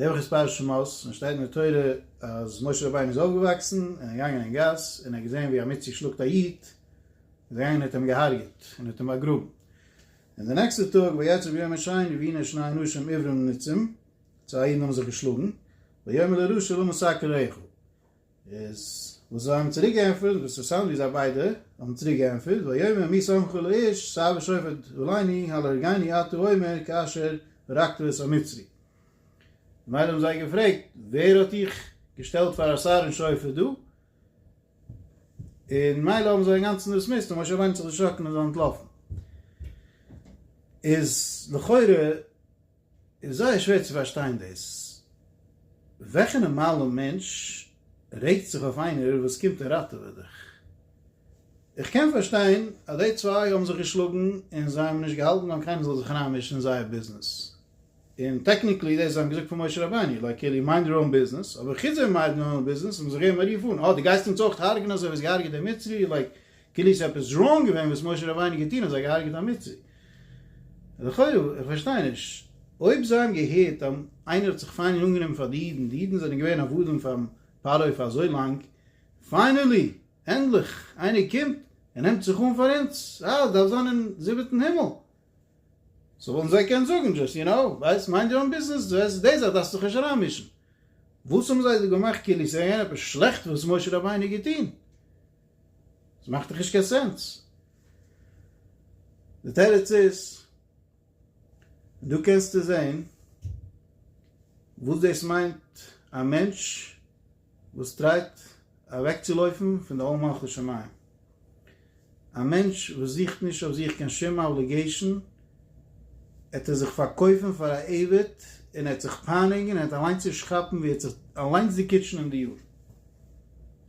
די וואך איז פרשת שמות און שטייט אין די תורה אז משה רבינו איז אויפגעוואקסן און איז געגאנגען אין גאס און ער האט געזען ווי עמיצער שלאגט א איד, איז ער געגאנגען און האט אים געהארגעט און האט אים באגראבן. און די נעקסטע טאג ויצב יום השני והנה שני אנשים עיוורים נצים, צוויי אידן האבן זיך געשלאגן, ויאמר לרשע למה סקרעך. איז וואס זיי האבן צוריק געענטפערט, וואס איז אינטערעסאנט ווי זיי ביידע האבן צוריק געענטפערט, ויאמר מי שמך לאיש סע ושפט עליני הלא הרגני אתה אומר כאשר הרגת את המצרי. ממילא האבן זיי געפרעגט, ווער האט דיך געשטעלט פאר א שר און שופט דא? און מילא האבן זיי אינגאנצן דיסמיסט און משה רבינו האט זיך דערשראקן און איז אנטלאפן. איז לכאורה. איז זייער שווער צו פארשטיין דאס. וועלכע נארמאלע מענטש רעגט זיך אויף איינער וואס קומט און ראטעוועט דיך? איך קען פארשטיין אז די צוויי האבן זיך געשלאגן און זיי האבן נישט געהאלטן אז קיינער זאל זיך אריינמישן אין זייער ביזנעס, און טעקניקלי דאס זיי האבן געזאגט פאר משה רבינו לייק קעלי מיינד יור אן ביזנעס, אבער חוץ זיי מיידן אן ביזנעס האבן זיי געגעבן א רוף אן אה די גייסט אונז אויך הארגען אזוי ווי האסט געהארגעט דעם מצרי לייק כאילו איז עפעס ראנג געווען וואס משה רבינו האט געטון און זיי געהארגעט א מצרי. לכאורה, איך פארשטיי נישט, אויב זיי האבן געהערט אז איינער האט זיך פיינעל אנגענומען פאר די אידן, די אידן זענען געווען עבדים פאר'ן פרעה פאר אזוי לאנג, פיינעלי, ענדליך, איינער קומט און נעמט זיך אן פאר אונז, אה, עס דארף זיין אין זיבעטן הימל. סאו וואלטן זיי געקענט זאגן, דזשאסט יו נאו, ווייסט, מיינד יור אן ביזנעס, דו וועסט, די זאך דארפסט זיך נישט אריינמישן. וואס האבן זיי דא געמאכט כאילו איז געווען עפעס שלעכט וואס משה רבינו האט געטון? ס'מאכט דאך נישט קיין סענס. די תירוץ איז, און דא קענסטו זעהן וואס דאס מיינט א מענטש וואס טרייט אוועקצולויפן פון די עול מלכות שמים. א מענטש וואס זוכט נישט אויף זיך קיין שום אבליגעישן ער האט ער זיך פארקויפן פאר א עבד און ער האט זיך פייניגן און ער האט אליינס נישט כאפן ווי ער האט זיך אליינס דערקיטשן אין די יאר.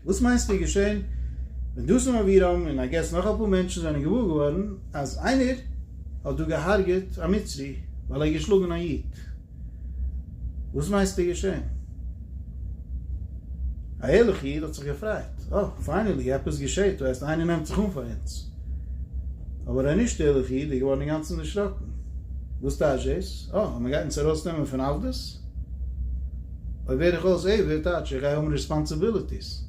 וואס מיינסטו איז געשען ווען דאסום אבירם און איי געס נאך אפאר מענטשן זענען געוואר געווארן אז איינער האט דא געהארגעט א מצרי ווייל ער האט געשלאגן א איד? וואס מיינסטו איז געשען? א ערליכע איד האט זיך געפרייט, אה, פיינעלי עפעס געשעט, דו הייסט איינער נעמט זיך אן פאר אונז. אבער א נישט ערליכע איד איז געווארן אינגאנצן דערשראקן, וואס טייטש דאס? אה, אז מען גייט אונז ארויסנעמען פון עבדות? אויב ווער איך אויס עיוור, טייטש איך גיי האבן רעספאנסיביליטיס,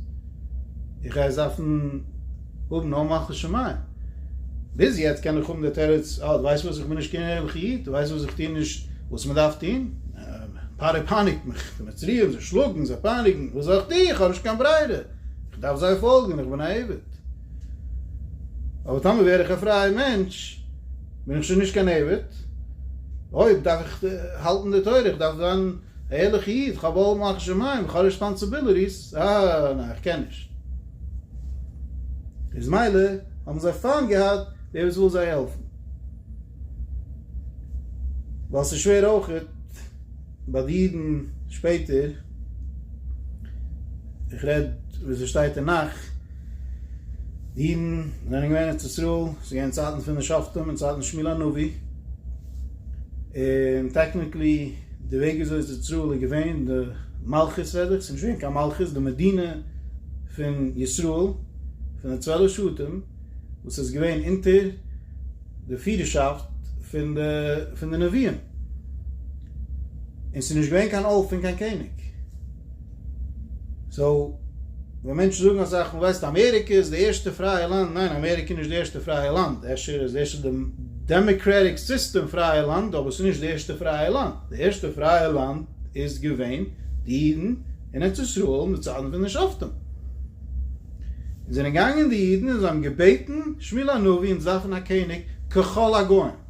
איך גיי עס דארפן האבן נאר מלכות שמים. ביז יעצט קען איך האבן די תירוץ, אה, דו ווייסט וואס, איך בין נישט קיין ערליכע איד, דו ווייסט וואס, איך טוה נישט וואס מען דארף טון, פרעה פייניגט מיך, די מצריים, זיי שלאגן, זיי פייניגן, וואס זאל איך טוהן, איך האב נישט קיין ברירה, איך דארף זיי פאלגן, איך בין א עבד. אבער טאמער ווער איך א פרייע מענטש, בין איך שוין נישט קיין עבד, אויב דארף איך האלטן די תורה, איך דארף זיין א ערליכע איד, איך האב אלע מלכות שמים, איך האב ריספאנסעבילעטיס, אה, ניין, איך קען נישט. איז מילא האבן זיי פיינט געהאט דער וואס וויל זיי העלפן, ווייל ס'איז שווער אויכעט ביי די אידן שפעטער, איך רעד ווי ס'שטייט אין נך, די אידן זענען געווען ארץ ישראל, ס'איז געווען צייטן פון די שופטים און צייטן שמואל הנביא, און טעקניקלי די וועג וויאזוי ארץ ישראל איז געווען די מלכות רעד איך, ס'נישט געווען קיין מלכות, די מדינה פון ישראל פון די צוועלף שבטים וואס איז געווען אונטער די פירערשאפט פון די פון די נביאים, און ס'נישט געווען קיין אלף און קיין קעניג. סאו ווען מענטשן זאגן אזאך פון ווייסט אמעריקע איז די ערשטע פרייע לאנד, ניין אמעריקע איז נישט די ערשטע פרייע לאנד, אפשר איז דאס די דעמעקרעטיק סיסטעם פרייע לאנד אבער עס איז נישט די ערשטע פרייע לאנד, די ערשטע פרייע לאנד איז געווען די אידן אין ארץ ישראל אין די צייטן פון די שופטים, און זענען געגאנגען די אידן און זיי האבן געבעטן שמואל הנביא אונז דארפן א קעניג ככל הגוים.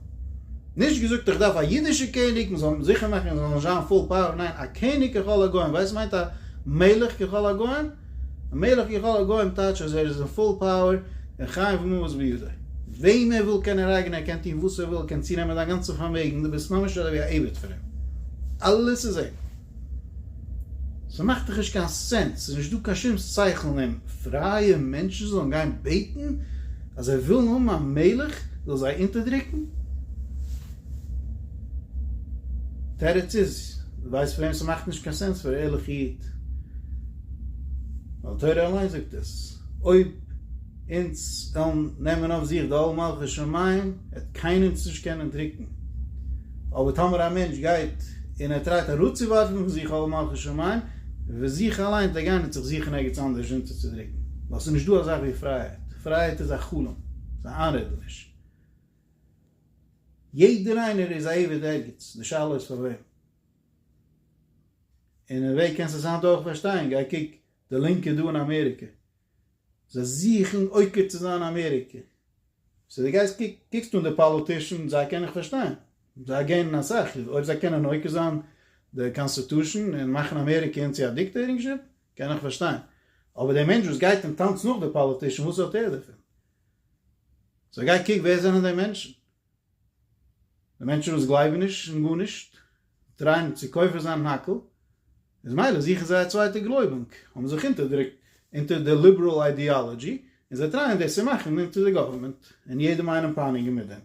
נישט געזאגט איך דארף א אידישע קעניג, מען זאל זיכער מאכן עס זאל נישט זיין פול פאוער, ניין, א קעניג ככל הגוים, ווייסט מיינט א מלך ככל הגוים? א מלך ככל הגוים טייטש אז ער איז אין פול פאוער, און חי וממות בידו. וועם ער וויל קען ער הרג'נען, ער קען טון וואס ער וויל, ער קען צונעמען דיין גאנצע פארמעגן, דו ביסט ממש אזוי ווי א עבד פון אים. אלעס איז אים. ס'מאכט דאך נישט קיין סענס, ס'איז נישט דא קיין שום שכל אין אים, פרייע מענטשן זאלן גיין בעטן אז זיי ווילן האבן א מלך זאל זיי אונטערדרוקן? תירוץ איז, דו ווייסט פאר וועם ס'מאכט נישט קיין סענס? פאר א ערליכע איד, ווייל תורה אליין זאגט עס, אויב. אונז וועלן נעמען אויף זיך די עול מלכות שמים, וועט קיינער אונז נישט קענען דרוקן, אבער טאמער א מענטש גייט און ער טרייט אראפצואווארפן פון זיך עול מלכות שמים, וועט זיך אליין וועט ער גיין און זיך זוכן ערגעץ אנדערש אונטערצודרוקן, ווייל ס'איז נישטא א זאך ווי פרייהייט, פרייהייט איז א חלום, ס'איז א איינרעדעניש, יעדער איינער איז א עבד ערגעץ, די שאלה איז פאר וועם. און אין וועג קענסט עס היינט אויך פארשטיין, גיי קוק די לינקע דא אין אמעריקע, זיי זוכן עוקר צו זיין אמעריקע. סאו דו גייסט קוקסט אן די פאליטישאנס, זיי קען איך פארשטיין, זיי געינען אסאך, אויב זיי קענען עוקר זיין די קאנסטיטושען און מאכן אמעריקע אונז צו א דיקטעירינגשיפ, קען איך פארשטיין. אבער דער מענטש וואס גייט און טאנצט נאך די פאליטישאן, וואס האט ער דערפון? סאו גיי קוק ווער זענען די מענטשן? די מענטשן וואס גלייבן נישט אין גארנישט טרייען צו כופר זיין אין הכל, איז מילא זוכן זיי א צווייטע גלויבונג, האבן זיך אונטערדרוקט אונטער די ליבעראל איידיאלאדזשי, און זיי טרייען דאס צו מאכן אונטער די גאווערמענט, און יעדעם איינעם פייניגן מיט דעם.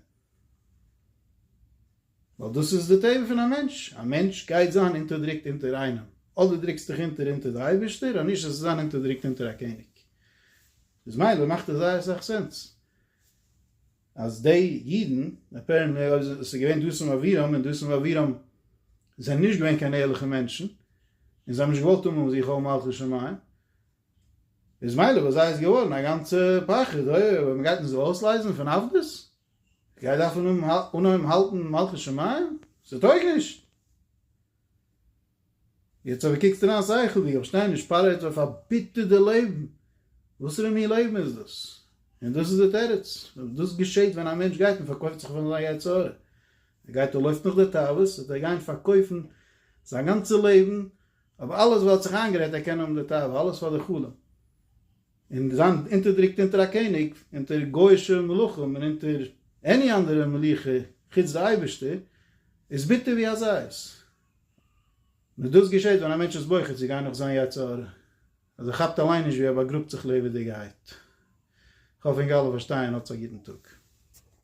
ווייל דאס איז די טבע פון א מענטש, א מענטש גייט זיין אונטערדרוקט אונטער איינעם, אדער דרוקסט דיך אונטער אונטער די אייבערשטער, אנישט זאלסטו זיין אונטערדרוקט אונטער א קעניג. איז מילא מאכט עס זייער סאך סענס. אז די אידן, עס איז געווען דתן ואבירם, און דתן ואבירם זענען נישט געווען קיין ערליכע מענטשן, און זיי האבן נישט געוואלט האבן זיך אויף מלכות שמים, איז מילא ביי זיי איז געווארן א גאנצע פחד, אוי אויב מען גייט אונז אויסלייזן פון עבדות, איך גיי דארפן אנהויבן האלטן מלכות שמים? ס'טויג נישט! יעצט אבער קוקסטו דיין שכל ווי איך שטיי נישט פארעט אויף א ביטערע לעבן, וואסערע מין לעבן איז דאס? און דאס איז די תירוץ, דאס געשעהט ווען א מענטש גייט און פארקויפט זיך פאר זיין יצר הרע, ער גייט ער לויפט נאך די תאוות, וועט ער גיין פארקויפן זיין גאנצע לעבן אויף אלעס וואס ער האט זיך איינגערעדט ער קען האבן די תאווה, אלעס פאר די חלום. און זיין אונטערדרוקט אונטער א קעניג, אונטער גוי'אישע מלכים און אונטער עני אנדערע מלוכה חוץ די אייבערשטער, איז ביטער ווי א זית. נאר דאס געשעט ווען א מענטש איז בוחר צו גיין נאך זיין יצר הרע, אז ער כאפט אליין נישט ווי ער באגראבט זיך לעבעדיגעהייט. כ'האף אונז אלע פארשטייען. האטס א גוטן טאג.